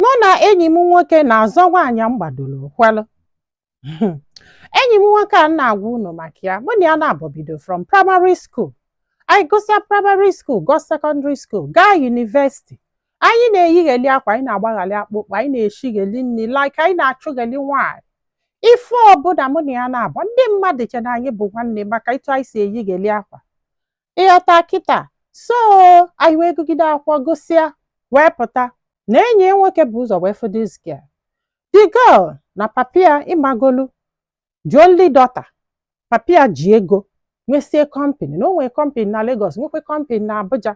mụ na enyi m nwoke na-azọ nwaanyị m gbadoro ụkwụ alụ enyi m nwoke a m na-agwa unu maka ya mụ na ya naabọ bido from primary school anyị gụsịa primary school gụọ secondary school gaa university anyị na-eyigheli akwa anyị na-agbaghali akpụkpọ anyị na-eshigheli nri like anyị na-achụgheli nwaanyị ife ọbụla mụ na ya naabọ ndị mmadụ che na anyị bụ nwanne maka etu anyị si eyigheli akwa ịghọta kịta so anyị wee gụgide akwụkwọ gụsịa wee pụta na enyi ya nwoke bu ụzọ wee fụ this girl the girl na papa ya ịmagolu the only daughter papa ya ji ego nwesie company na o nwere company na Lagos nwekwe company na Abuja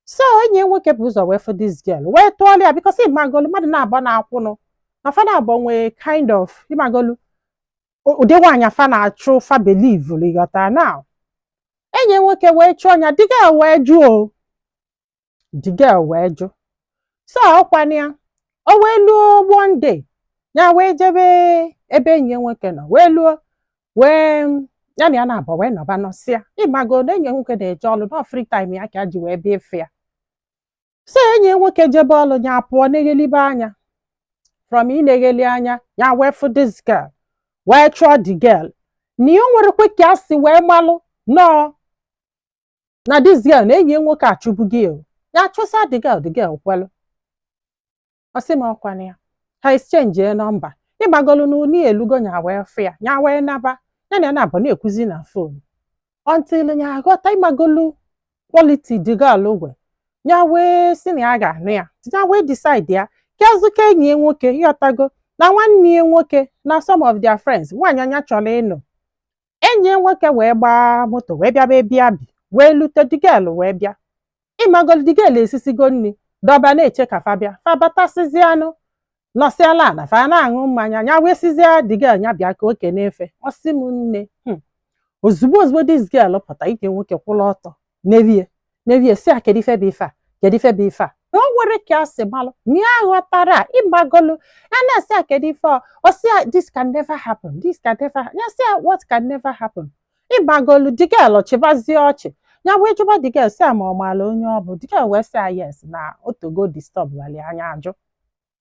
so enyi ya nwoke bu ụzọ wee fụ this girl wee tụọla ya because ịmagolu mmadụ naabọ na-akwụnụ na fa naabọ nwee kind of ịmagolu ụdị nwaanyị a fa na-achụ fa believe ịghọta na enyi nwoke wee chụọ ya the girl wee jụ o the girl wee jụ so ọkwana ya o wee luo one day ya wee jebe ebe enyi ya nwoke nọ wee luo wee ya na ya naabọ wee nọba nọsịa ịmago na enyi ya nwoke na-eje ọlụ na free time ya ka ya ji wee bịa ịfụ ya so enyi nwoke jebe ọlụ ya pụọ na-eghelibe anya from ị na-egheli anya ya wee fụ this girl wee chụọ the girl na ya nwerekwe ka a si wee malụ nọọ na this girl na enyi nwoke achụbugo ya ya chụsa the girl the girl kwelụ ọ sị m ọkwana ya ha exchange number ịmagolu n'ụlọ ya elugo nya wee fụ ya nya wee naba ya na ya naabọ na-ekwuzi na phone until nya aghọta ịmagolu quality the girl nwe ya wee sị na ya ga-anụ ya ya wee decide ya kezuka enyi ya nwoke ịghọtago na nwanne ya nwoke na some of their friends nwaanyị nya chọrọ ịnụ enyi ya nwoke wee gbaa moto wee bịaba ebe ya bi wee lute the girl wee bịa ịmagolu the girl esisigo nri dọba na-eche ka fa bịa fa batasịzịanụ nọsịala ana fa na-aṅụ mmanya nya wee sịzịa the girl nya bịa ka o kene fa ọ sị m nne hmm. ozugbo ozugbo this girl pụta nke nwoke kwụrụ ọtọ nee ya nee ya sị a kedu ife bụ ife a kedu ife bụ ife a na o nwere ka a si malụ na ya ghọtara a, ịmagolu ya na-asị a kedu ife a ọ sị a this can never happen this can never happen ya sị a what can never happen ịmagolu the girl chịbazie ọchị ya wee jụba the girl sị a ma ọ maala onye ọ bụ the girl wee sị a yes na o tego disturb wali a nya ajụ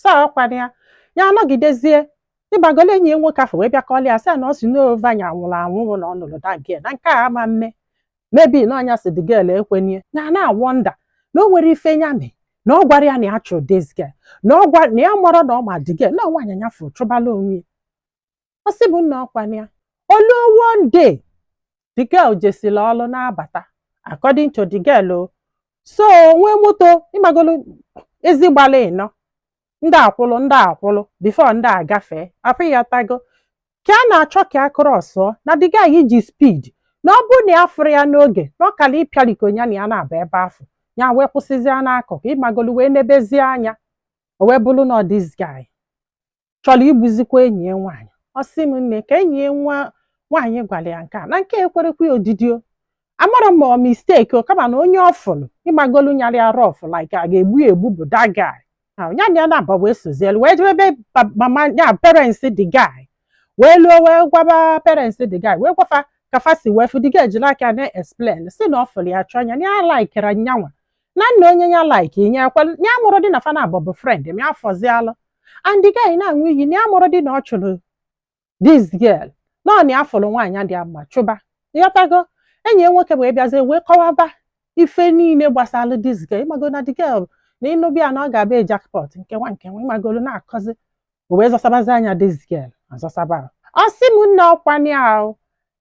so ọkwana ya ya anọgidezie ịmagolu enyi ya nwoke afụ wee bịa kọlị ya sị ya na ọ sị na over nya nwụrụ anwụrụ na ọ nụrụ that girl na nke a ama mme maybe na ọ nya sị the girl ekwenye ya na-awonder na o nwere ife nya mee na ọ gwara ya na ya chụrụ this girl na ya marọ na ọ ma the girl na nwaanyị nya fụrụ chụbalụ onwe ya ọ sị bụ nna ọkwa na o luo one day the girl jesila ọlụ na-abata according to the girl o so nwee moto ịmagolu ezi gbala ịnọ ndị akwụlụ ndị akwụlụ before ndị agafee afụ ịghọtago ka a na-achọ ka a crossụọ na the guy ji speed na ọ bụrụ na ya afụrọ ya n'oge na ọ kara ịpịarikọ ya na ya na-aba ebe afụ ya wee kwụsịzie n'akụkụ ịmagolu wee nebezie anya o wee bụrụ na ọ this guy chọrọ igbuzikwa enyi ya nwaanyị ọ sị m nne ka enyi ya nwa nwaanyị gwara ya nke a na nke ekwerọkwa ya odidi o amarọ ma ọ mistake o kama na onye ọ fụlụ ịmagolu nyara ya rough like a ga-egbu ya egbu bụ that guy na ya na ya na-aba wee sozielu wee jebe ebe pa- mama ya parents the guy wee luo wee gwaba parents the guy wee gwa fa ka fa si wee fụ the guy jiri aka na-explain sị na ọ fụlụ ya chụọ ya na ya likere nyanwa na nna onye ya like inye ekwe ya amarọdị na fa naabọ bụ friend ma ya fọzịalụ and the guy na-aṅụ iyi na ya amarọdị na ọ chụrụ this girl na ọ na ya fụrụ nwaanyị dị mma chụba ịghọtago enyi ya nwoke wee bịazie wee kọwaba ife niile gbasara this girl ịmago na the girl na ịnụba ya na ọ ga-abụ jackpot nke a nke a ịmagolu na-akọzi o wee zọsabazi anya this girl azọsaba ọ sị m nne ọkwa na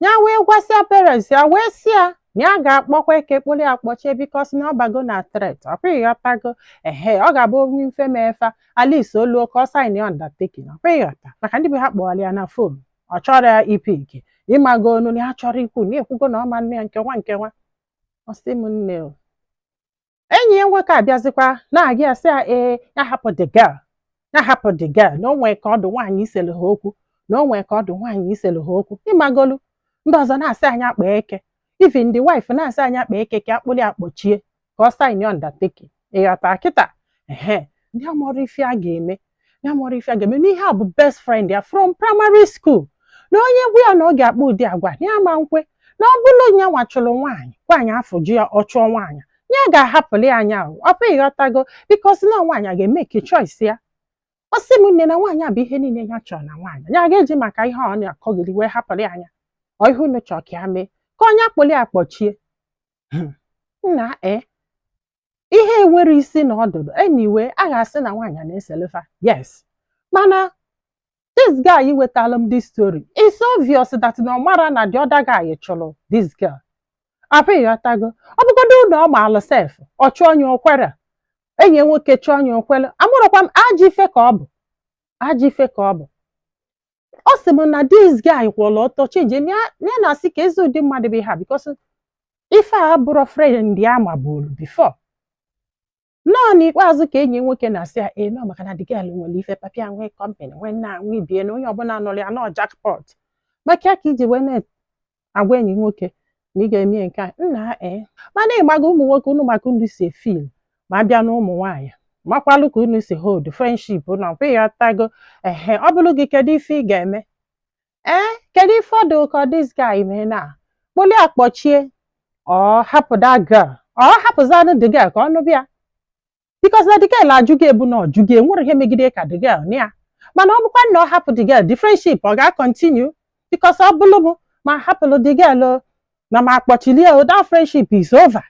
ya wee gwasịa parents ya wee sị ya na ya ga-akpọkwa eke kpụrụ ya kpọchie because na ọ bago na threat ọkwa ịghọtago ehe ọ ga-abụ o nwee ife mee fa at least o luo ka ọ signịa undertaking ọkwa ịghọta maka ndị be ha kpọwara ya na fon ọ chọrọ ipick ịmago onu na ya chọrọ ikwu na ekwugo na ọ ma nne ya nke a nke a ọ sị m nne o enyi ya nwoke abịazikwa na-agwa ya sị ya ee ya hapụ the girl ya hapụ the girl na o nwee ka ọ dụ nwaanyị iselu ha okwu na o nwee ka ọ dụ nwaanyị iselu ha okwu ịmagolu ndị ọzọ na-asị anyị kpọọ eke even the wife na-asị anyị kpọọ eke ka a kpụlụ ya kpọchie ka ọ sign undertaking ịghọta kịta ehe ndị amarọ ife a ga-eme ya amarọ ife a ga-eme na ihe a bụ best friend ya from primary school na onye gwa ya na ọ ga-akpa ụdị agwa ya ma nkwe na ọ bụrụ nya nwa chụrụ nwaanyị nwaanyị afụ jụ ya ọ chụọ nwaanyị ya ga-ahapụlụ ya nya ahụ ọkwa ịghọtago because na nwaanyị a ga-emeke choice ya ọ sị m nne na nwaanyị a bụ ihe niile ya chọrọ na nwaanyị ya ga-eji maka ihe ọ na-akọgiri wee hapụlụ ya nya ọ ihe unu chọọ ka ya mee ka ọ nya kpụlụ ya kpọchie nna e ihe a enwerọ isi na ọdụdụ anyway a ga-asị na nwaanyị a na-eselu fa yes mana this guy wetaalụ m this story it's obvious that na ọ marọ na the other guy chụrụ this girl afụ ịghọtago ọ bụgodulu ọ maalụ sef ọ chụọ onye o kwere enyi ya nwoke chụọ onye o kwere amarọkwa m ajọ ife ka ọ bụ ajọ ife ka ọ bụ ọ sị m na this guy kwụọla ọtọ chenji ya na-asị ka ezi ụdị mmadụ bụ ha because ife a abụrọ friend ya mabụrụ before na ọ n'ikpeazụ ka enyi nwoke na-asị ya ee na ọ maka na the girl nwere ife papa ya nwee company nwee nna nwee bie na onye ọbụla nụrụ ya na ọ jackpot maka ya ka iji wee agwa enyi nwoke na ị ga-eme nke a nna ee mana ị mago ụmụ nwoke unu ma ka unu si efeel ma a bịa na ụmụ nwaanyị makwalụ ka unu si hold friendship na ọkwa ịghọtago ehe ọ bụlụ gị kedu ife ị ga-eme ee kedu ife ọ dụ ka this guy mee na kpoli akpọchie ọ hapụ that girl ọ hapụzianụ the girl ka ọ nụba ya because na the girl ajụ gị ọ bụ na ọ jụ gị enwere ihe megide ka the girl na ya mana ọ bụkwa na ọ hapụ the girl the friendship ọ ga-acontinue because ọ bụlụ m ma hapụlụ the girl o, na ma akpọchilie o that friendship is over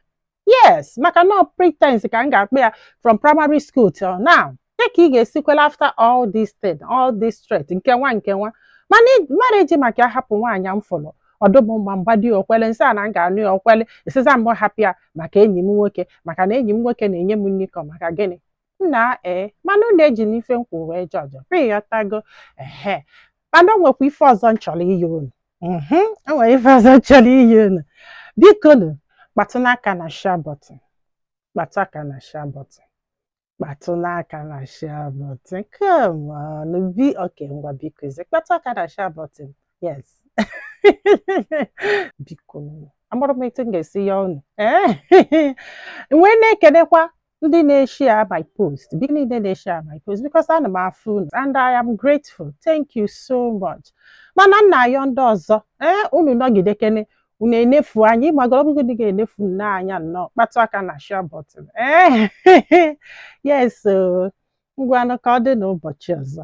yes maka na ọ pretense ka m ga-akpọ ya from primary school till now ya ka ị ga-esikwela after all this thing all this threat nkewa nkewa m ma eji maka ya hapụ nwaanyị m fụrụ ọ dụ m mma m gwadị ya o kwele m sị ya na m ga-anụ ya o kwele ị sịzie mụ hapụ ya maka enyi m nwoke maka na enyi m nwoke na-enye m nri ka ọ maka gịnị nna ee mana unu ejina ife m kwuru wee judge o ịghọtago ehe mana o nwekwa ife ọzọ m chọrọ ịyọ unu mhm o nwere ife ọzọ m chọrọ ịyọ unu bikonu kpatụnụ aka na share button kpatụ aka na share button kpatụnụ aka na share button come on bi okay ngwa bikozie kpatụ aka na share button yes biko amarọ m etu m ga-esi yọ unu ee wee na-ekenekwa ndị na-eshia my post ndị niile na-eshia my post because ana m afụ unu and I am grateful thank you so much mana m na-ayọ ndị ọzọ ee unu nọgidekene unu enefu anya ị magoro ọ bụghị ga-enefu nne anya nnọọ kpatụ aka na share button ee yes ngwanụ ka ọ dị n'ụbọchị ọzọ